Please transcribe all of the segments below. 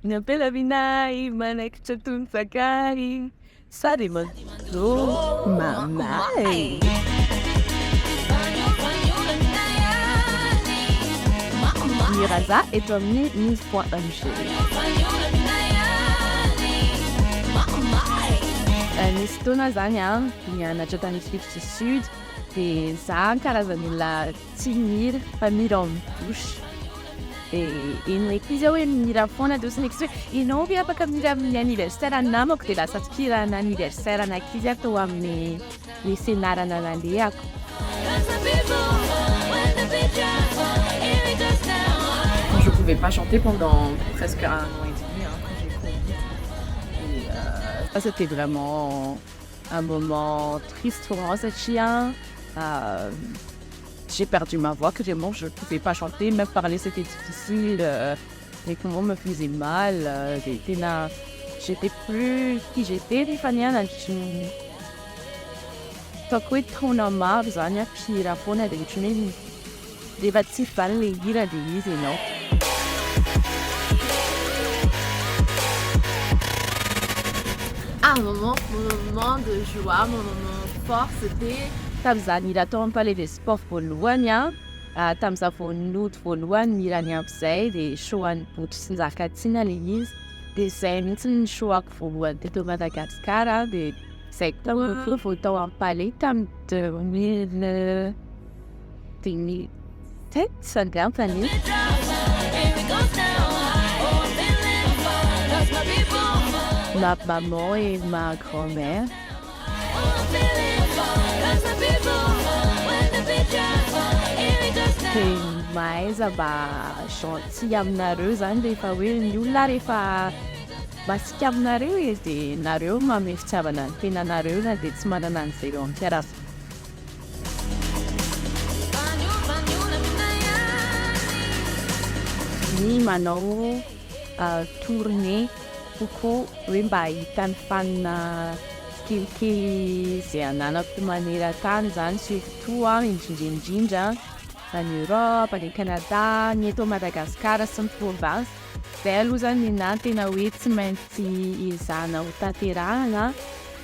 Ny ampela minahy manaikitra toy ny sakay sa dia manjo mamae. Miraza eto amin'ny muse.mg. Eh, nisy fotoana zany aho nianatra tany Afrique du Sud dia zah karazan'olona Tsy mira fa mira en douche. Dia eny eky izy hoe mira foana en douche next hoe ianao ve afaka mira amin'ny anniversaire ny namako dia lasa mpihira ana anniversaire an'ankizy aho tao amin'ny ny fianarana nalehako. Quand je pouvais pas chanter pendant presque un an et demi hein, quand j'ai covid et euh. Ça c'était vraiment. un moment triste pour moi satria j'ai perdu ma voix carrément je pouvais pas chanter même parler c'était difficile mes poumons me faisaient mal dia tena j'étais plus qui j'étais ny fanianako ataoko hoe taona maro zany an mpihira foana dia ohatran'ny hoe Rehefa tsy mivaly le hira de iza enao. Ah mon moment moment de joie mon moment fort c'était. Tamin'izany hira tao amin'ny palais des sports voalohany an, tamin'izaho vao nody voalohany ny hiran'i Ampy izay dia show an'i Boto sy Njakatiana ilay izy dia izay mihitsy ny show ako voalohany teto Madagascar an dia izay koa vao tao amin'ny palais tamin'ny deux mille dia ny tets angamba ny ma maman et ma grand mère dia mahaiza mba gentil aminareo zany rehefa hoe ny olona rehefa masika aminareo e dia nareo manome fitiavana ny tenanareo na dia tsy manana an'izay eo am-piarahamonina ny manao tournée kokoa hoe mba hahita ny fanina tsikelikely izay ananako maneran-tany izany surtout indrindra indrindra any Europe, any Canada, ny eto Madagasikara sy ny province, izay aloha izany ny ahy no tena hoe tsy maintsy ezahina hotanterahina.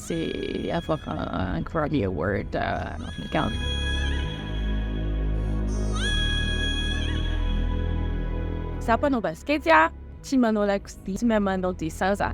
Tsy afaka Grammy Award Afrikana. Za mpanao basikety a, tsy manao lakozia, tsy mahay manao dessin za.